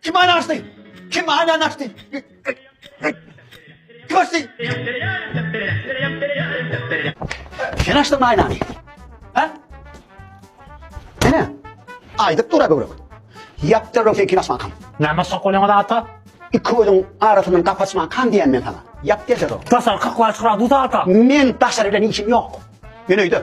Kim aýny açdy? Kim aýny açdy? Kim açdy? Sen açdyňmy aýnany? Ha? Mene. Aýdyp dur göwrek. Ýapdyryp sen kim açmakam? Näme sokulyňyz ata? Iki gözüň arasyndan gap açmak kan diýen men sana. Ýap derse o. Daşarky kulaç gradus ata. Men daşary bilen işim ýok. Men öýde.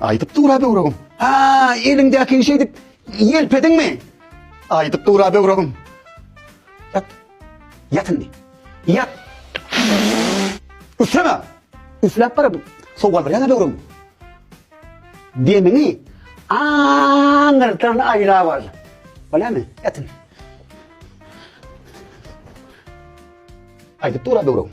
Aýdyp dur-a böwregim. A, eliňdäkini şeýdip ýelpediňmi? Aýdyp dur-a böwregim. Ýat. Ýat indi. Ýat. Üfleme. Üfläp barady. Sowgaldyraýan-a böwregim. Demiňi aňyrdan aýlap al. Bolýamy? Ýat indi. Aýdyp dur-a böwregim.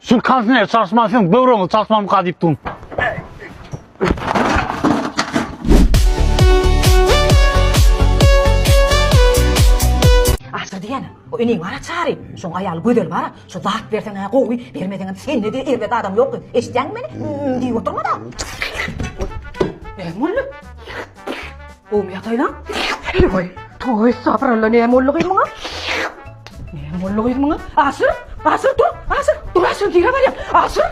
Şu kansine çalışman sen böwrüňi çalışman mı diýip durun. Aşyr diýen, o öneň bara çary. Şoň aýaly gözel bara, şu zat berseň ha gowy, bermeseň hem sen ne de erbet adam ýok. Eşitýäňmi meni? Diýip oturma da. Bermeli. Gowy ýataýlaň. Heý-ey, toý esabralla näme boldy gyz muňa? Näme boldy gyz muňa? Aşyr, aşyr dur, aşyr, dur aşyr nirä barýaň? Aşyr.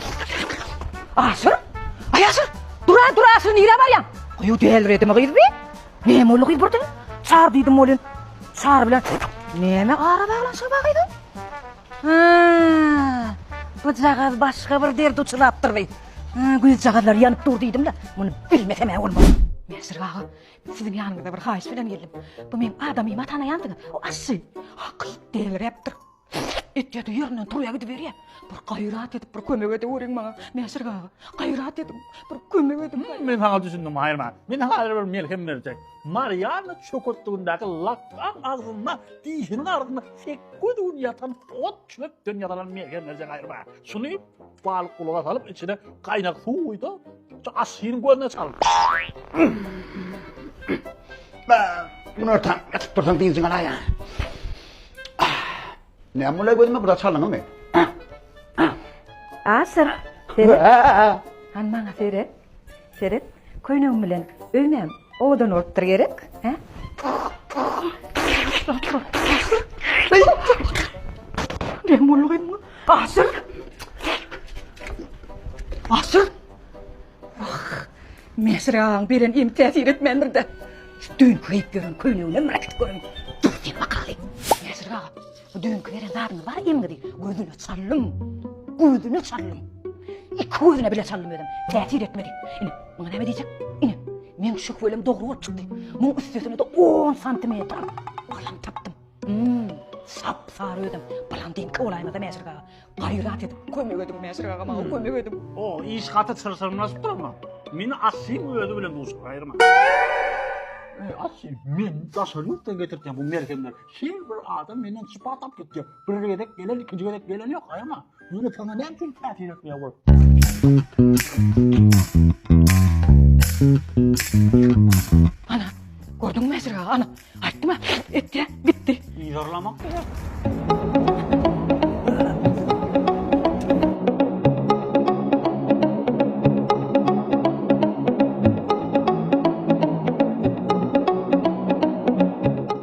Aşyr. Aý aşyr. Dur, dur aşyr nirä barýaň? Goýu dälredimi gyz bi? Näme boldy gyz birden? Çar diýdim welin. Çar bilen näme ara baglanyşygy bar gyzyň? Gyzjagaz başga bir dert uçurapdyr bi. Güýzjagazlar ýanyp dur diýdim-de, muny bilmesem-ä bolmaz. Mesrik aga, siziň ýanyňyza bir haýyş bilen geldim. Bu meň adamyma tanaýansyňyz, o aşşy. Hakyt deliräpdir. Etýä-de ýerinden turýa gidiberýä. Bir gaýrat edip bir kömek edeweriň maňa, Mesrik aga. Gaýrat ediň, bir kömek ediň. Men saňa düşündim, haýyrman. Men häzir bir melhem berjek. Marianna çöketligindäki lapgam agzynda dişiniň arasynda sekkiz gün ýatan ot-çöpden ýasalan mergen berjek aýryma. Şuny balyk gulaga salyp, içine gaýnak suw guýsa, şu aşynyň gözüne çal. Günortan ýatyp dursaň dynjyň alaýa. Näme bolýar gözüme bu da çalyňmy? Aşyr, seret. Han maňa seret. Seret, köýnegim bilen öýmem owadan bolupdyr gerek, hä? Ne boldy bu? Asyl. Asyl. Ah, Mesir ağam beren em täsir etmändir de. Şu düýn köýüp ýören köýnegine bir gidip görün. Dur sen bakaly. Mesir ağam, Bu düýnki beren zadyňy bar iýmge diý. Gözüne çaldym. Gözüne çaldym. Iki gözüne bile çaldym özüm. Täsir etmedi. Ine, muňa näme diýjek? Ine, meň şöhwelem dogry bolup çykdy. Muň üstesine-de on santimetr balam tapdym. Hum, sap-sary özüm. Blandinka bolaýmasa Mäşirgi aga. Gaýrat edip kömek ediň Mäşirgi aga, maňa kömek ediň. O, iş gaty çylşyrymlaşyp dur ama. Meni Aslyň özi bilen duşup gaýyrma. Eý, Asly, men daşary ýurtdan getirtýän bu merhemleri. Her bir adam menden sypat alyp gitýär. Bir gezek gelen, ikinji gezek gelen ýok, aýama. Ýöne saňa näme üçin täsir etmeýär ol? Ana, gördüňmi Mesrik aga, ana, aýtdym-a, etdi-ä, gitdi. Yzarlamak gerek.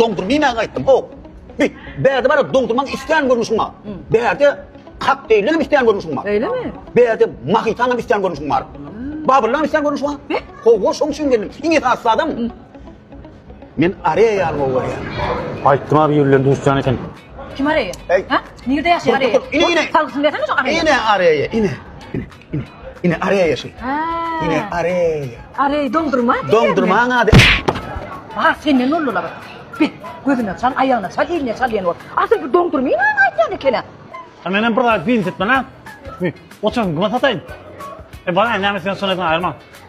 Doňduryp iýmäge gaýtdym. Owk. Bi, bärde bar-a doňdurmaň islän görnüşiň bar. Bärde kokteýllerem islän görnüşiň bar. Öýlemi? Bärde mohitanaň islän görnüşiň bar. Babyrlaň islän görnüşi bar. Bi, howwa şoň üçin geldim. Iň esasy zadam men Areýa almagy görýän. Aýtdym-a bir ýerlerini düzütýän eken. Kim Areýa? Äý. Hä? Nirde ýaşaýar Areýa? Ine, ine. Salgysyny bersene şoň Areýa. Ine Areýa, ine. Ine, ine areýa şu. Ha. Ine areýa. Areý doldurma. Doldurma ady. Ha, senden nollular. Bit, gözüne çal, aýagyna çal, eline çal diýen ol. Asyl bu doldurma ýa aýtýan ekene. Ha men hem bir zat diýip gitmän ha. Oçan gym sataýyn. E bana näme sen sonuň aýyrma.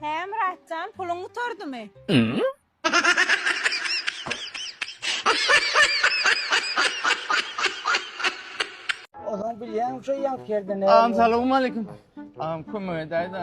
Hä Myratjan puluň gutardymy? Ozan bilýäň şu ýaňky ýerden näme. Agam salowmaleykim. Agam kömek edäýdä.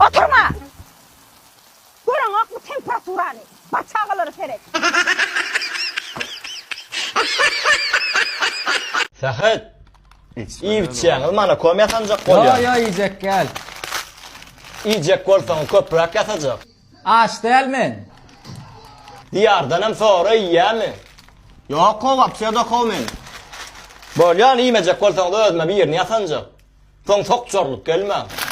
Oturma! Göreňokmy temperaturany? Bar çagalara seret. Sähet! Iýip-içýäňiz mana kom ýasanjak bolýar. Ýo-ýo iýjek gel. Iýjek bolsaň köpräk ýasajak. Aç däl men. Diýardanam sora iýýämi? Ýok how, aptiýada how men. Bolýan iýmejek bolsaňyz özüme birini ýasanjak. Soň sok jorlup gelmäň.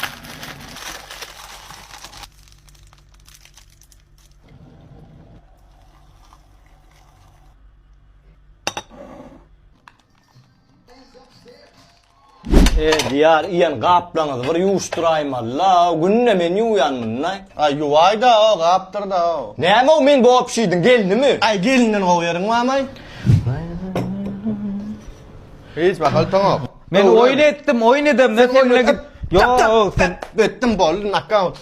Diýar iýen gaplaňyzy bir ýuwuşdyraýym alla, günde men ýuwýan muny. Aý ýuwaýda o gapdyrda o. Näme o men bop şiýdiň gelnimi. Aý gelninden gowy ýeriň bamaý. Hiç mahal toňok. Men oýun etdim oýun edem ne kemine git. Ýok sen etdim boldy nakaut.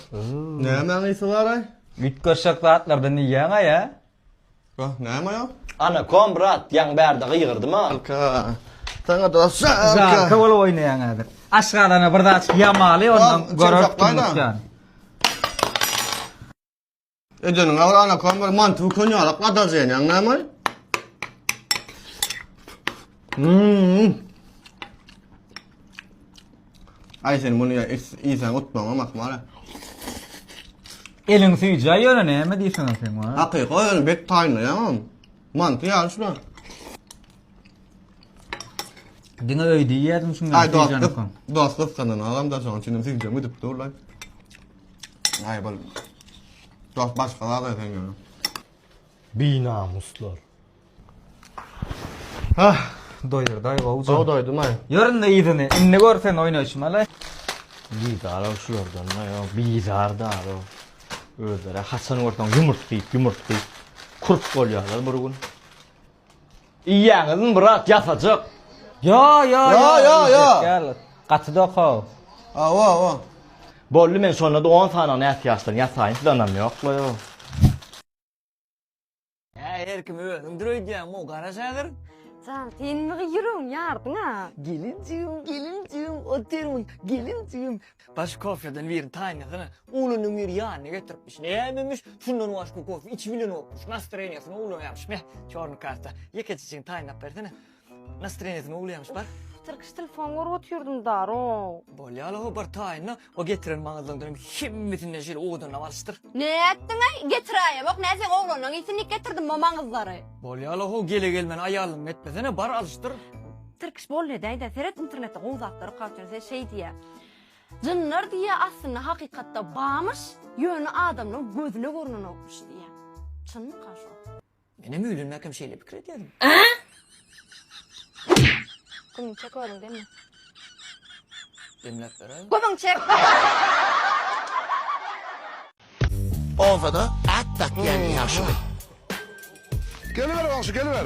Nämäň ysy baraý. Üýtgeşek zatlardan iýýäňaý a. Wah, näme ýa? Ana, kom brat, ýaň bärde gygyrdym-a. Alka, saňa dosja, alka. Alka bolup oýnaýaň häzir. Aşgazana bir zat ýamaly, ondan görersiň ýan. Edeniň agyr, ana, kom bir manty bukan ýalak, gadar zeýenýäň, näme? Mmm. Ay sen bunu ya is- insan utmaňa makmara. Eliň süýjä ýöne näme diýseň sen wa. Hakyka öyle bet taýynly ya. Mantı ya şuna. Diňe öýde ýerdim şuňa. Ay dost kız, dost kız kanan adam da şoň içinden süýjä gidip dur lan. Ay bol. Dost başka da sen ya. Binamuslar. Ah, doýurdaý gowy. Gowy doýdum aý. Ýöründe ýyzyny. Indi gör sen oýnaýşymy ala. Bizar ol şulardan da ýok. Bizar da ol. Özleri haçan görseň ýumurt diýip, ýumurt diýip. Kurt bolýarlar bir gün. Iýýäňizmi brat, ýasajyk? Ýo, ýo, ýo, ýo, ýo. Gaty dokaw. Awa, awa. Boldy men şonda-da on sanyny ätiýaçdan ýasaýyn, siz ynam ýok-la ýo. Hä her kim özüňdir öýdýäňmi gara şagyr? Jan sen mi ýüregiň ýardyňa? Gelinjigim gelinjigim otyryň gelinjigim. Baş kofeden birini taýyn etsene. Oglunyň biri ýanyna getiripmiş. Nämemiş şundan başga kofe içip bilenokmuş. Nastroýeniýasyny oglan ýazypyş. Neh çorny karta. Ýekeçe çyn taýynlap bersene. Nastroýeniýa kime gülýämiş bar. Tyrkyş telefon görüp otyrdym daroow. Bolýala o bir taýyna o getiren maňyzlaň dönem hemmesinden şeýle owadanlap alyşdyr. Nätdiňaý getiraýewok nä seň oglanlaň isinlik getirdim mo maňyzlary. Bolýala ho gele gelmän aýalym etmesene bar alyşdyr. Tyrkyş bol edäýdä seret internetde gowy zatlar okap ýör sen şeý diýýä Jynlar diýýä aslynda hakykatda bamyş ýöne adamlaň gözüne görnenokmyş diýýä Çynmyka şo. Menem öýlenmäkem şeýle pikir edýärin. Gümüň çek oglum demle. Demläp beräýiň. Gümüň çek. Obada at dakýan ýaşuly. Geliber goňşy, geliber.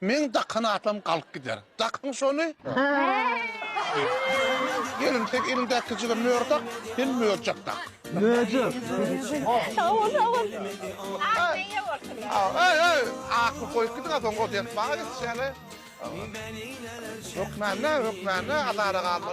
Meň dakan atam galyp gider. Dakyň şony. Gelin, sen eliňdäkijige möhür dak, sen möjek dak. Möjek. Sag bol, sag bol. Agyryň eýe bolsun. Aý, aý, akyl goýup gidiň-ä soň o desmaga geçişýäň-ä. Hökmände, hökmände azara galma.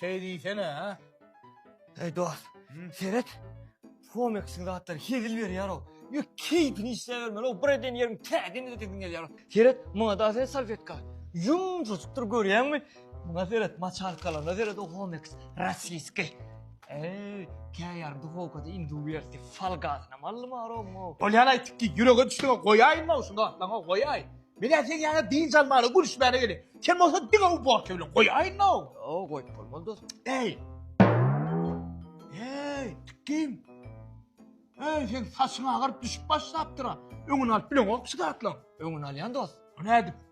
Şeý diýsene-hä. Eý dost, seret. Fomeksiň zatlary hezil berýär-ow. Ýöne keýpini işläbermeli-ow. Bir eden ýeriň täzeden ödesin gelýär. Seret, muňa-da sen salfetka. Ýumşajykdyr görýäňmi? Muňa seret, maçalkalaryna seret o Homeks rossiýski. Eý, käýarym duhowkada indi uwersi fal gazyna mallym aroňo. Bolýan aýtdyk ki, ýürege düşdüňe goýaýyn maw şu zatlaňa goýaý. Men ä sen ýaňa dynç almana gülüşmäne geli. Sen bolsa diňe uborka bilen goýaýyn maw. Ýo, goýup bolmaz dos. Eý. Eý, tikgim. Eý, sen saçyň agaryp düşüp başlapdyra. Öňüni alyp bileňok şu zatlaň. Öňüni alýan dos. Nädip?